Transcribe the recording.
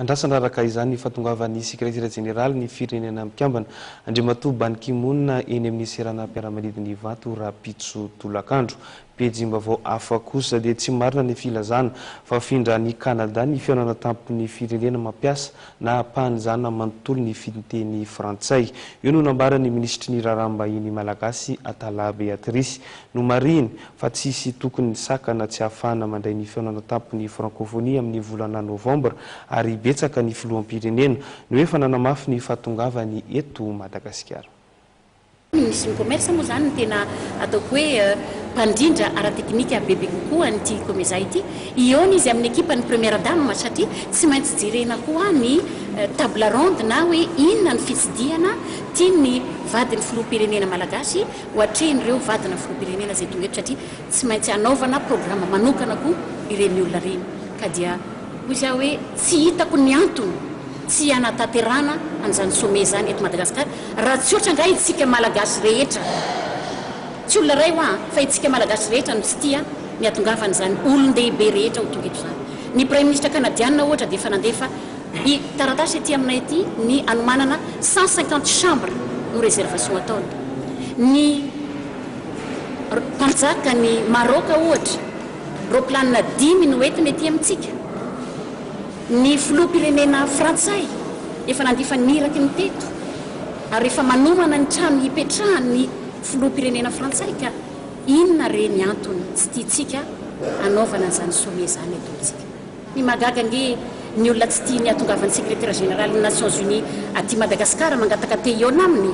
Andrasana araka izany ny fahatongavan'ny Sekretera Jeneralin'ny Firenena Mikambana, Andriamatoa Ban Ki Moon eny amin'ny seranam-piaramanidina Ivato rahampitso tolakandro. Pejim-baovao hafa kosa dia tsy marina ny filazana fa hafindra any Canada ny fihaonana tampon'ny firenena mampiasa na ampahanjana manontolo ny fiteny frantsay. Io no nambaran'ny Minisitry ny Raharaham-bahiny Malagasy Atalahy Beatrice. Nomarihiny fa tsy hisy tokony ny sakana tsy hahafahana mandray ny fihaonana tampon'ny Francophonie amin'ny volana Novambra ary betsaka ny filoham-pirenena no efa nanamafy ny fahatongavany eto Madagasikara. Misy ny commerce moa izany no tena ataoko hoe mpandrindra ara-teknika bebe kokoa an'ity Comesa ity. Hihaona izy amin'ny ekipan'ny Première Dame satria tsy maintsy jerena koa ny table ronde na hoe inona ny fitsidihana tian'ny vadin'ny filoham-pirenena malagasy ho atrehin'ireo vadina filoham-pirenena izay tonga eto satria tsy maintsy hanaovana programa manokana koa ireny olona ireny ka dia hoy izy aho hoe tsy hitako ny antony tsy hanatanterahana an'izany sommet izany eto Madagasikara raha tsy ohatra angaha itsika Malagasy rehetra tsy olona iray hoa fa itsika Malagasy rehetra no tsy tia ny hatongavan'izany olon-dehibe rehetra ho tonga eto izany ny Praiminisitra Kanadiana ohatra dia efa nandefa Ny taratasy ety aminay ety ny anomanana cent cinquante chambre no reservation ataony ny mpanjaka ny Maroc ohatra roplanina dimy no entiny ety amintsika ny filoham-pirenena frantsay efa nandifa ny iraky ny teto ary efa manomana ny trano hipetrahany ny filoham-pirenena frantsay ka inona re ny antony tsy tiantsika hanaovana izany sommet izany eto amintsika. Ny mahagaga ange ny olona tsy tia ny hatongavan'ny secretaire général ny nations unies aty Madagascar mangataka te hihaona aminy.